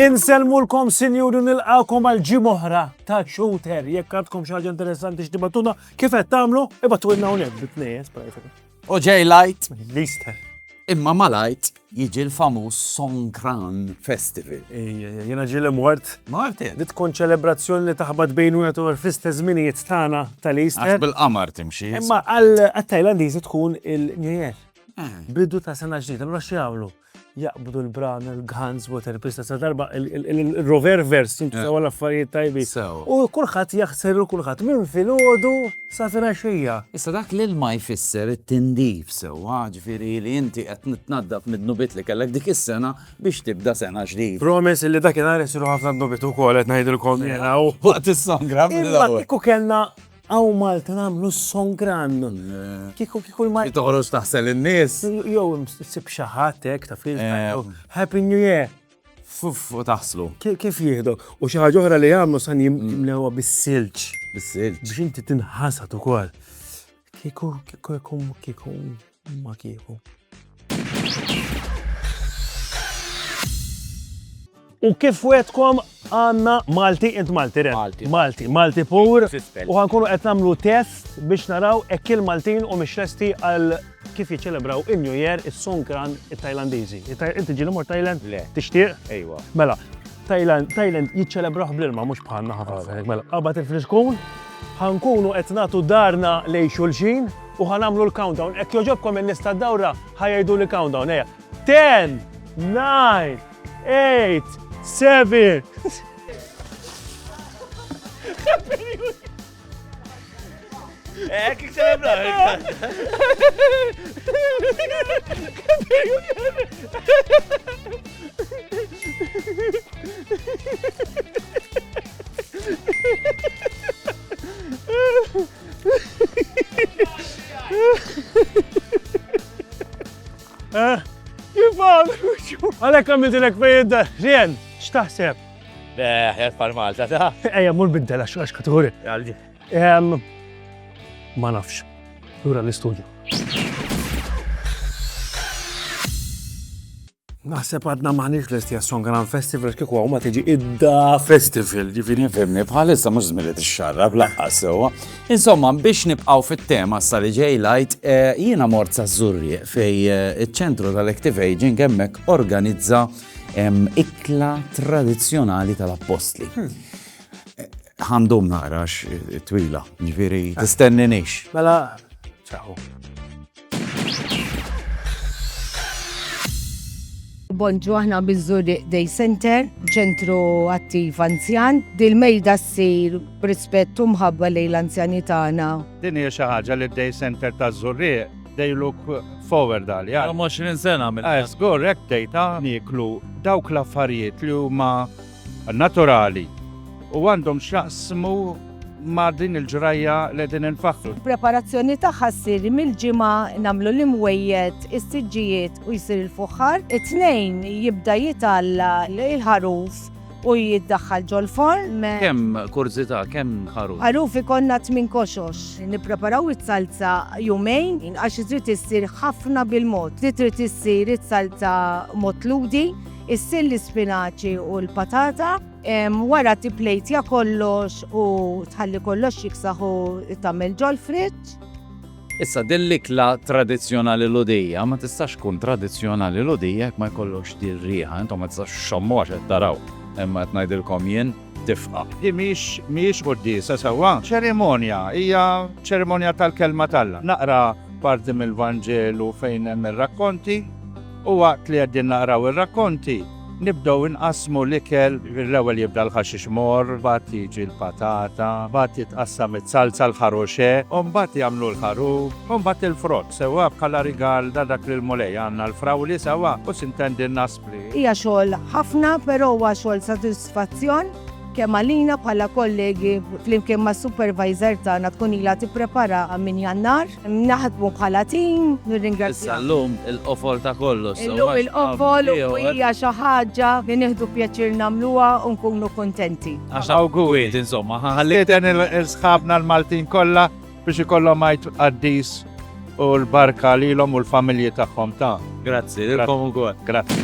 Inselmulkom sinjuri nilqakom għal ġim oħra ta' shooter. Jekk għadkom xi ħaġa interessanti x'dibattuna kif qed tagħmlu, ibatu ilna hawnhekk bit-tnejn, O ġej lajt, l-Easter. Imma ma lajt jiġi l-famuż Songkran Festival. Jena ġili mort. Mort Li tkun ċelebrazzjoni li taħbat bejn u għetur fl-istess żminijiet tagħna tal-Easter. Għax bil-qamar timxi. Imma għal-Tajlandiżi tkun il-New Year. Bidu ta' sena ġdida, allura xi jagħmlu? jaqbdu l-brana l-guns, water pista, sa darba il-rover vers, jintu sawa l-affarijiet tajbi. U kullħat jaħsel u kullħat minn fil-ħodu sa fina xija. Issa dak l-ilma jfisser it-tindif sewa, ġviri li jinti għet nitnaddaf mid-nubit li kellek dik is-sena biex tibda sena ġdid. Promes li dak il-għar jisiru ħafna nubit u kol għet najdilkom jena u għat il-sangra. Imma kiku kellna Hawn Malta nagħmlu s-song grand. Kieku kieku l-Maltin. Li toħroġ taħsel lin-nies. Jew issib xi ħadd hekk taf li jgħid Happy New Year. Fuff u taħslu. Kif jieħdu. U xi ħaġa oħra li jagħmlu san jimlewha bis-silġ. Bis-silġ. Biex inti tinħasad ukoll. Kieku kieku kieku kieku. Ma kieku. U kif wetkom għanna Malti int Malti re. Malti. Malti, Malti pur. U għankunu qed nagħmlu test biex naraw hekk il-Maltin u mhix lesti għal kif jiċċelebraw in-New Year is-Songkran it-Tajlandiżi. Inti ġieli mor Tajland? Le. Tixtieq? Ejwa. Mela, Tajland, Tajland jiċċelebraw bl-ilma mhux bħalna ħafna. Mela, qabad il-friskun, ħankunu qed nagħtu darna lej xulxin, U ħa nagħmlu l-countdown. Hekk jogħġobkom in-nies tad-dawra ħa jgħiduli countdown, ejja. Ten, nine, eight, seven. Hekk ikselebra. Eh? Kif għal? Għalek għamil dilek fejn Rien, xtaħseb? Ħjat pal Malta ta' Ejja, mur biddel għax għax katuri. Għaldi. Ma nafx. Lura l-istudju. Naħseb għadna maħniex lesti għasson Grand Festival kieku għaw ma tiġi idda festival ġifiri fimni bħalissa mux zmili t-xarra blaqqa sewa. Insomma, biex nibqaw fit-tema sa li ġej lajt, eh, jiena mort sa' zurri fej eh, il-ċentru tal-Active Aging hemmhekk organizza ikla tradizjonali tal-appostli. Hmm. Eh, Għandhom narax twila, ġifiri, tistenni nix. Mela, Bonġu aħna bizzuri Day Center, ċentru attiv anzjan. Dil-mejda ssir b'rispett u mħabba lejn l-anzjani tagħna. Din hija xi ħaġa li Day Center ta' Zurri they look forward għal. Għal 20 sena minn. Għaz, gorrek dejta niklu dawk l-affarijiet li huma naturali u għandhom x'jaqsmu ma' din il-ġrajja li qegħdin infaħħru. Il-preparazzjoni tagħha ssir mill-Ġimgħa, nagħmlu l-imwejjed, is-siġġijiet u jsir il-fuħħar. It-Tnejn jibda jitgħalla l-ħaruf u jiddaħħal ġol-forn. Kemm, kurżità, kemm ħaruf? Ħaruf ikollna tmien koxox. Nippreparaw is-salza jumejn għax trid issir ħafna bil-mod. Trid issir is-salza mod lhudi. Issil l-ispinaċi u l-patata. Wara tipplejtja kollox u tħalli kollox jiksaħ u tagħmel ġol-friġġ. Issa din l-ikla tradizzjonali Lhudija ma tistax tkun tradizzjonali Lhudija jekk ma jkollokx din riħa. Intom ma tistax ixxommuha x'qed taraw imma qed ngħidilkom jien. tifqa. Di mhix mhijiex quddiesa sewwa, ċerimonja, hija ċerimonja tal-Kelma t'Alla. Naqra parti mill-Vanġelu fejn hemm ir-rakkonti, u waqt li qegħdin naqraw ir-rakkonti, nibdew inqassmu l-ikel, l-ewwel jibda l-ħaxix morr, mbagħad jiġi l-patata, mbagħad titqassam iz-zalza, l-ħaruxe, u mbagħad jagħmlu l-ħarub, u mbagħad il-frott, sewwa bħala rigal ta' dak li l-Mulej għandna l-frawli sewwa, u sintendi n-naspli. Hija xogħol ħafna, però huwa xogħol sodisfazzjon kemm għalina bħala kollegi flimkien mas-supervisor tagħna tkun ilha tippreparaha minn Jannar. Naħdmu bħala tim, nirringrazzjak. Issa llum il-qofol ta' kollox. Illum il-qofol u hija xi ħaġa li nieħdu pjaċir nagħmluha u nkunu kuntenti. Għax awguri, insomma, ħalli. Nistieden il-sħabna l-Maltin kollha Biex ikollhom għajt qaddis u l-barka lilhom u l-familji tagħhom ta'. Grazzi, lilkom ukoll. Grazzi.